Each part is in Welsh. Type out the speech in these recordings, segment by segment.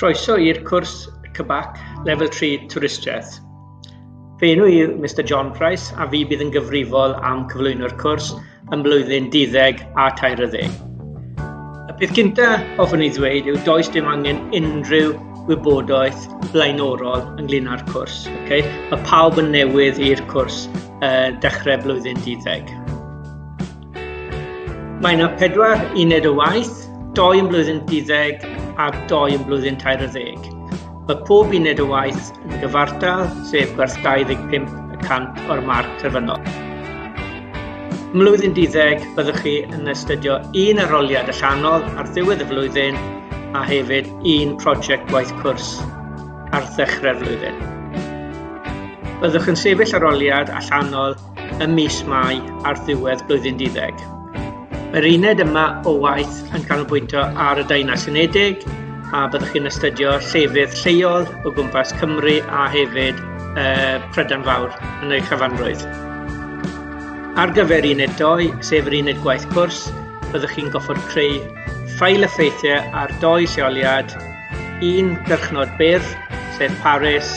Croeso i'r cwrs CBAC Level 3 Twristiaeth. Fy enw i yw Mr John Price a fi bydd yn gyfrifol am cyflwyno'r cwrs ym mlwyddyn 12 a 30. Y peth gyntaf hoffwn i ddweud yw does dim angen unrhyw wybodaeth blaenorol ynglyn â'r cwrs. Okay? Mae pawb yn newydd i'r cwrs uh, dechrau blwyddyn 12. Mae yna pedwar uned o waith, doi yn blwyddyn 12 a doi yn blwyddyn 20. Mae pob uned o waith yn gyfartal, sef gwerth 25 y cant o'r marc terfynol. Mlwyddyn 12 byddwch chi yn astudio un aroliad allanol ar ddiwedd y flwyddyn a hefyd un prosiect gwaith cwrs ar ddechrau'r flwyddyn. Byddwch yn sefyll aroliad allanol ym mis Mai ar ddiwedd blwyddyn duddeg. Mae'r uned yma o waith yn canolbwyntio ar y Daenau Unedig a byddwch chi'n astudio llefydd lleol o gwmpas Cymru a hefyd uh, Prydain Fawr yn ei chyfanrwydd. Ar gyfer uned 2, sef yr uned gwaith cwrs, byddwch chi'n goffod creu ffail effeithiau ar doi lleoliad, un gyrchnod byr, sef Paris,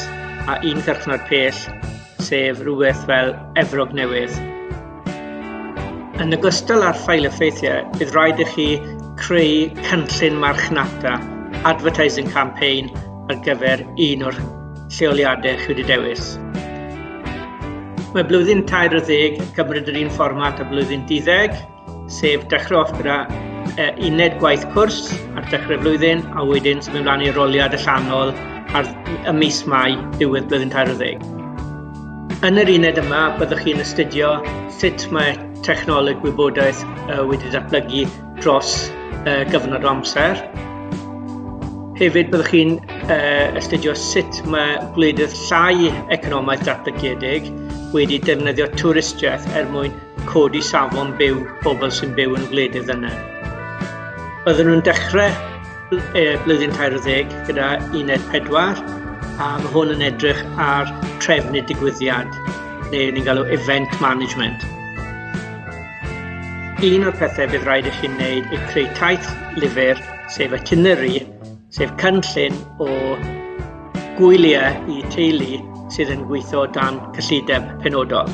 a un gyrchnod pell, sef rhywbeth fel Efrog Newydd. Yn ogystal â'r ffael effeithiau, bydd rhaid i chi creu cynllun marchnata, advertising campaign, ar gyfer un o'r lleoliadau chi wedi dewis. Mae blwyddyn tair o ddeg yn cymryd yr un fformat a blwyddyn diddeg, sef dechrau off gyda uh, uned gwaith cwrs ar dechrau flwyddyn, a wedyn symud ymlaen i'r roliad allanol ar y mis Mai diwedd blwyddyn 40. Yn yr uned yma, byddwch chi'n astudio sut mae technoleg wybodaeth uh, wedi datblygu dros uh, gyfnod o amser. Hefyd, byddwch chi'n uh, astudio sut mae gwledydd llai economaidd datblygiedig wedi defnyddio twristiaeth er mwyn codi safon byw pobl sy'n byw yn gwledydd ddyner. Byddwn nhw'n dechrau e, blwyddyn 40 gyda uned 4 a mae hwn yn edrych ar trefn y digwyddiad neu ni'n galw event management. Un o'r pethau bydd rhaid i chi'n gwneud yw creu taith lyfr, sef itinerary, sef cynllun o gwyliau i teulu sydd yn gweithio dan cyllideb penodol.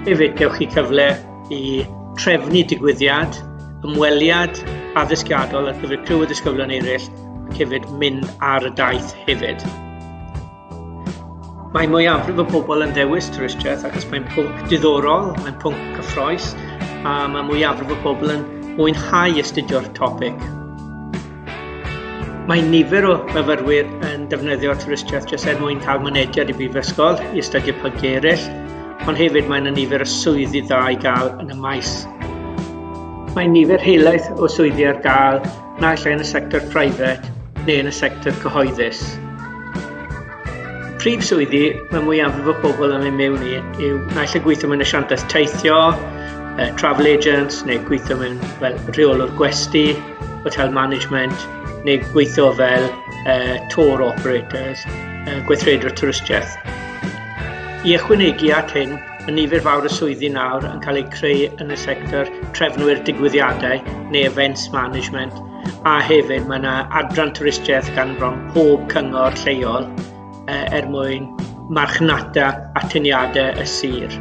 Hefyd, gewch chi cyfle i trefnu digwyddiad, ymweliad addysgiadol ar gyfer criw y disgyblion eraill ac hefyd mynd ar y daith hefyd. Mae mwyafrif o bobl yn ddewis twristiaeth achos mae'n pwnc diddorol, mae'n pwnc cyffroes a mae mwyafrif o bobl yn mwynhau astudio'r topic. Mae nifer o fyfyrwyr yn defnyddio twristiaeth jyst er mwyn cael mynediad i brifysgol i astudio pynciau eraill, ond hefyd mae yna nifer o swyddi dda i gael yn y maes. Mae nifer helaeth o swyddi ar gael naill ai yn y sector private neu yn y sector cyhoeddus. Prif swyddi mae mwyaf o bobl yn ei mewn i yw naill ai gweithio mewn asiantaeth teithio, travel agents neu gweithio mewn fel rheolwr gwesti, hotel management neu gweithio fel uh, tour operators, uh, gweithredwr twristiaeth. I ychwanegu at hyn, y nifer fawr y swyddi nawr yn cael eu creu yn y sector trefnwyr digwyddiadau neu events management, a hefyd mae yna adran twristiaeth gan bron pob cyngor lleol uh, er mwyn marchnata atyniadau y sir.